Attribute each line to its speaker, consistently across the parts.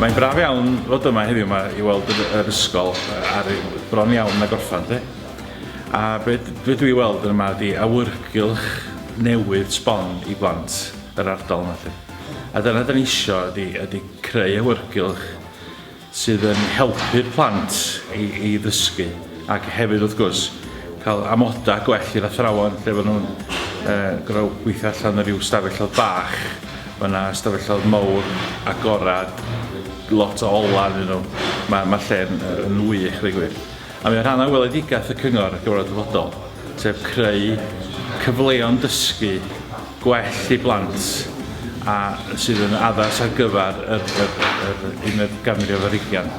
Speaker 1: Mae'n braf iawn fod yma heddiw yma i weld yr ysgol ar bron iawn na gorffan de. A beth be dwi weld yma ydi awyrgylch newydd sbon i blant yr ardal yma de. A dyna dyn ni isio ydi, ydi creu awyrgylch sydd yn helpu'r plant i, i ddysgu ac hefyd wrth gwrs cael amodau gwell i'r athrawon lle fod nhw'n uh, gorau gweithio allan o ryw stafellodd bach mae yna stafellodd mawr agorad lot o ola yn nhw mae, mae lle yn, yn wych fe gwir A mae o'n rhan o weledigaeth y Cyngor ar gyfer y dyfodol, sef creu cyfleon dysgu gwell i blant a sydd yn addas ar gyfer yr, yr, yr, yr uned ganrif ar ugian.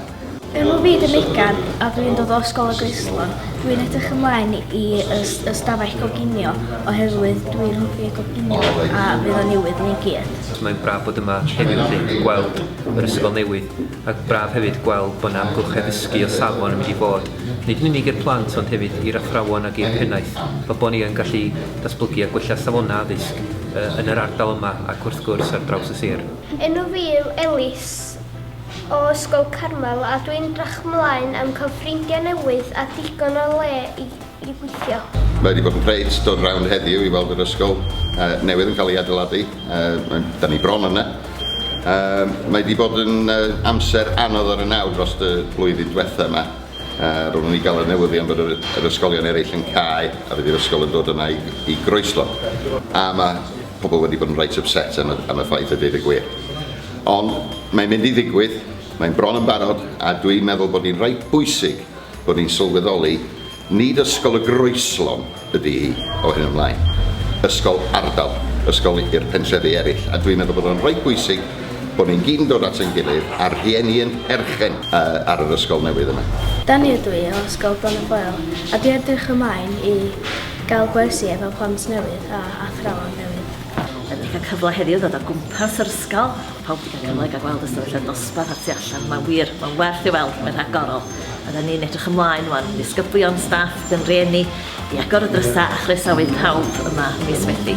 Speaker 1: Yn fy myd i Megan, a dwi'n dod o Ysgol y Greislon, dwi'n edrych ymlaen i y stafell goginio oherwydd dwi'n hoffi goginio a fydd o'n newydd i ni gyd. Mae'n braf bod yma heddiw felly, gweld yr ysgol newydd. Ac braf hefyd gweld bod 'na amgylchedd ddysgu o safon yn mynd i fod, nid yn unig i'r plant ond hefyd i'r athrawon ac i'r pennaeth, fel bod ni yn gallu datblygu a gwella safonau addysg yn yr ardal yma ac wrth gwrs ar draws y sir. Enw fi yw Elis, o Ysgol Carmel, a dwi'n drach mlaen am cael ffrindiau newydd a digon o le i i gweithio. Mae wedi bod yn greit dod rownd heddiw i weld yr ysgol uh, newydd yn cael ei adeiladu. Uh, da ni bron yna. Uh, mae wedi bod yn uh, amser anodd ar y naw dros y blwyddyn diwetha yma. Uh, roeddwn ni gael y newyddion bod yr, yr ysgolion eraill yn cael a bydd yr ysgol yn dod yna i, i groeslo. A mae pobl wedi bod yn reit upset am y, am y ffaith y dweud y gwir. Ond mae'n mynd i ddigwydd, mae'n bron yn barod a dwi'n meddwl bod hi'n reit bwysig bod ni'n sylweddoli nid ysgol y Groeslon ydy hi o hyn ymlaen, ysgol ardal, ysgol i'r pentrefi eraill, a dwi'n meddwl bod o'n rhaid bwysig bod ni'n gyd yn dod at ein gilydd a'r rhieni yn perchen ar yr ysgol newydd yna. Dani ydw i o Ysgol Bron y Foel a dwi edrych ymlaen i gael gwersi efo plant newydd a athrawon newydd. Dani wedi cael cyfle heddiw ddod o gwmpas yr ysgol, pawb wedi cael cyfle i gael gweld ystafell y dosbarth a'r tu allan, mae'n wir, mae'n werth ei weld, mae'n rhagorol. Oedden ni'n edrych ymlaen wan, disgyblion, staff, gyn rieni, i agor y drysa a chroesawu pawb yma mis Medi.